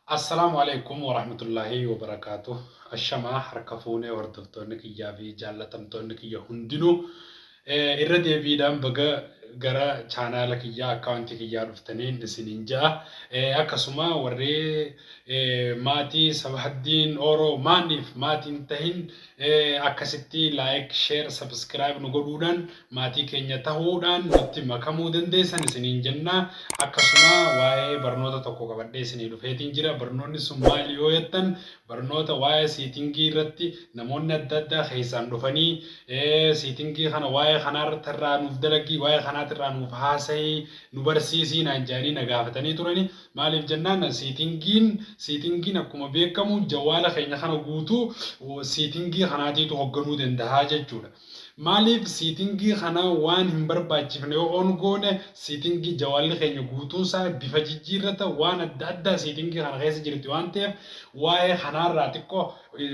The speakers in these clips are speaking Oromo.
Assalaamu Aleeykum Warahmatullaahi Wabarakaatuh Ashamaa harka fuunee hordoftoonni kiyyaa fi jaallatamtoonni kiyya hundinuu irra deebiidhaan baga gara chaanaala kiyyaa akkaawuntii kiyyaa dhuftaniin isiniin ja'a akkasuma warri maatii sabahaddiin ooroo maaniif maatiin tahin Akkasitti like, share, subscribe nu godhuudhaan maatii keenya tahuudhaan nutti makamuu dandeessan isiniin jenna. Akkasuma waa'ee barnoota tokko qabadhee isinii dhufeetiin jira. Barnoonni sun maali yoo jettan barnoota waa'ee siitingii irratti namoonni adda addaa keessaan dhufanii siitingii kana waa'ee kanaarratti irraa nuuf dalagii waa'ee kanaatirraa nuuf haasayii nu barsiisii naan jedhanii na gaafatanii turani. Maaliif jennaan seetingiin seetingiin akkuma beekamu jawaala keenya kana guutuu seetingii kanaatiitu hogganuu dandahaa jechuudha. Maaliif seetingii kana waan hin barbaachifne yoo on goone seetingii jawaalli keenya guutuunsaa bifa jijjiirrata waan adda addaa seetingii kana keessa jirti waan ta'eef waa'ee kanaarraa xiqqoo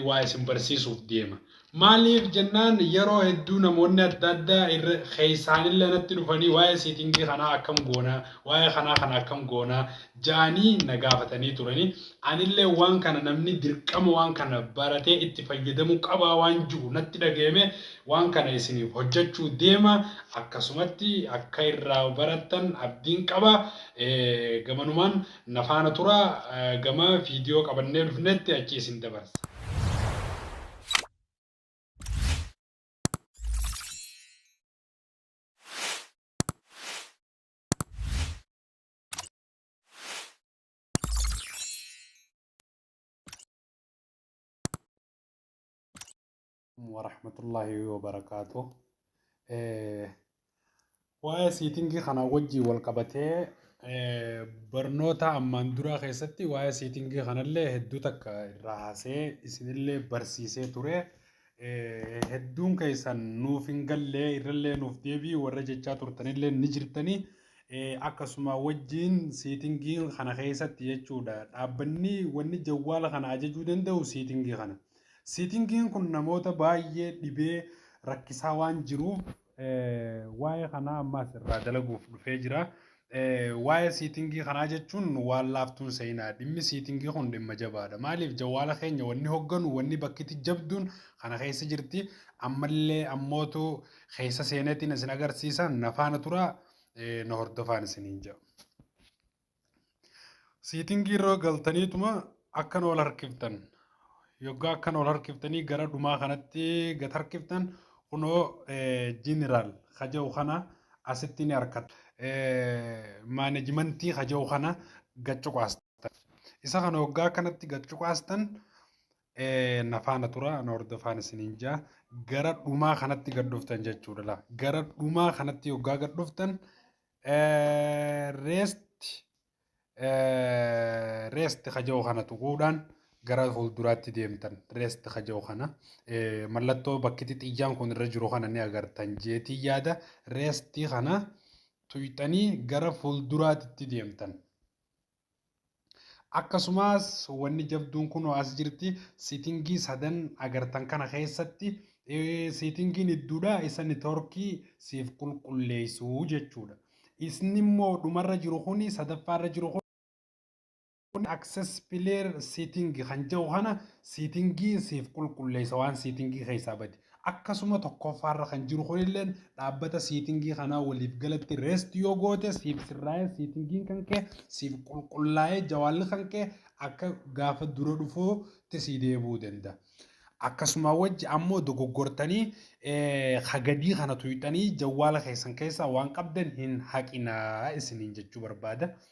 waa isin barsiisuuf deema. Maaliif jennaan yeroo hedduu namoonni adda addaa irra keessaanillee natti dhufanii waa'ee seetingii kanaa akkam goona, waa'ee kanaa kana akkam goona ja'anii na gaafatanii turani. Anillee waan kana namni dirqama waan kana baratee itti fayyadamuu qabaa waan ju'u natti dhagayamee waan kana isiniif hojjachuu deema. Akkasumatti akka irraa barattan abdiin qaba. Gamanumaan Na faana turaa gama viidiyoo qabannee dhufnetti achi isin dabarsa. warahmatullahi wabarakaatuh. Eh, Waa'ee siitingii kanaa wajjin wal qabatee eh, barnoota ammaan duraa keessatti waa'ee siitingii kanallee hedduu takka irraa haasee isinillee barsiisee ture. Eh, Hedduun keessan nuuf hin gallee irrallee nuuf deebii warra jechaa turtanillee ni jirtanii. Eh, Akkasuma wajjin siitingii kana keessatti jechuudha. Dhaabbanni wanni jawwaala kana ajajuu danda'u siitingii kana. Siitingiin kun namoota baay'ee dhibee rakkisaa waan jiruuf waa'ee kanaa ammaas irraa dalaguuf dhufee jira. Waa'ee siitingii kanaa jechuun waan laaftuun seenaa dhimmi siitingii kun dhimma jabaadha. Maaliif jawwaala keenya wanni hogganu wanni bakkiti jabduun kana keessa jirti. Ammallee ammootu keessa seeneetiin isin agarsiisa nafaana tura na hordofaan isiniin jedha. Siitingii irra galtaniituma akkan ol harkiftan yoggaa akkan ol harkiftanii gara dhumaa kanatti gad harkiftan kunoo jeneraal kaja'u kana asitti ni harkata. Maanejimentii kaja'u kana gad cuqaastan. Isa kana yoggaa kanatti gad cuqaastan nafaana tura na hordofaan isiniin jaa gara dhumaa kanatti gad dhuftan jechuudha. Gara dhumaa kanatti yoggaa gad dhuftan Rest rest kaja'u kana tuquudhaan gara fuulduraatti deemtan rest kaja'u kana mallattoo bakkitti xiyyaan kun irra jiru kana ni agartan jeetii yaada rest kana tuyxanii gara fuulduraatti deemtan. Akkasumaas wanni jabduun kunoo as jirti sitingii sadan agartan kana keessatti sitingiin idduudha isa nitorkii siif qulqulleessu jechuudha. Isni immoo dhumarra jiru kuni sadaffaarra jiru kun access player setting kan jedhu kana sitingii siif qulqulleessa waan sitingii keessaa bade. Akkasuma tokkoffaarra kan jiru kunilleen dhaabbata siitingii kanaa waliif galatti rest yoo goote siif sirraa'ee siitingiin kan kee siif qulqullaa'ee jawaalli kan kee akka gaafa dura dhufuutti sii deebi'uu danda'a. Akkasumaa wajji ammoo dogoggortanii ka gadii kana tuyxanii jawwaala keessan keessaa waan qabdan hin haqinaa isiniin jechuu barbaada.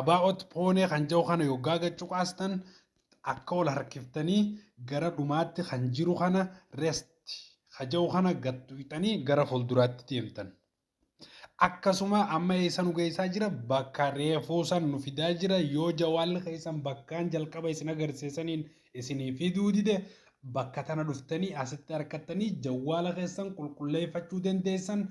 About poonee kan jedhu kana yoggaa gad cuqaastan akka wal harkiftanii gara dhumaatti kan jiru kana rest ka jedhu kana gad tuqxanii gara fuulduraatti deemtan. Akkasuma amma eessa nu geessaa jira bakka reefuu san nu fidaa jira yoo jawaalli keessan bakkaan jalqaba isin agarsiisaniin isinii fiduu dide bakka tana dhuftanii asitti harkattanii jawaala keessan qulqulleeffachuu dandeessan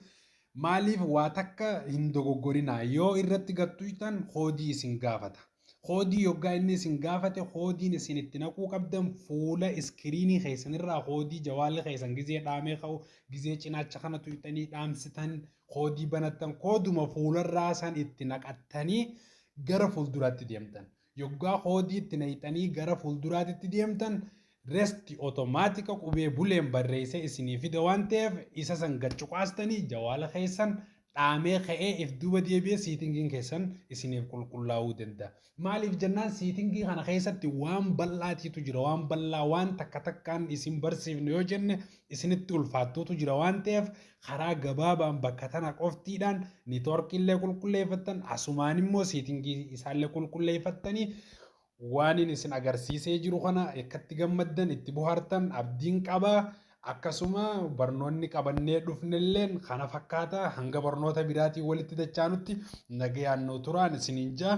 Maaliif waa takka hin dogoggorinaa yoo irratti gad tuyxan koodii isin gaafata. Koodii yoggaa inni isin gaafate koodiin isin itti naquu qabdan fuula iskiriinii keessan irraa koodii jawaalli keessan gizee dhaamee ka'u gizee cinaacha kana tuyxanii dhaamsitan koodii banattan kooduma fuularraa san itti naqattanii gara fuulduraatti deemtan. Yoggaa koodii itti nayxanii gara fuulduraatitti deemtan rest otomaatika qubee buleen barreessee isinii fida waan ta'eef isa san gad cuqaastanii jawaala keessan dhaamee ka'ee if duuba deebi'ee siitingiin keessan isiniif qulqullaa'uu danda'a. Maaliif jennaan siitingii kana keessatti waan bal'aatiitu jira waan bal'aa waan takka takkaan isin barsiifne yoo jenne isinitti ulfaattuutu jira waan ta'eef Karaa gabaabaan bakka tana qoftiidhaan nitoorkiillee qulqulleeffattan asumaan immoo seetingii isaallee qulqulleeffattanii waanin isin agarsiisee jiru kana akkatti gammaddan itti bohaartan abdiin qaba. Akkasuma barnoonni qabannee dhufnelleen kana fakkaata hanga barnoota biraatiin walitti dachaanutti nagayaan nuu turaan isiniin jaa.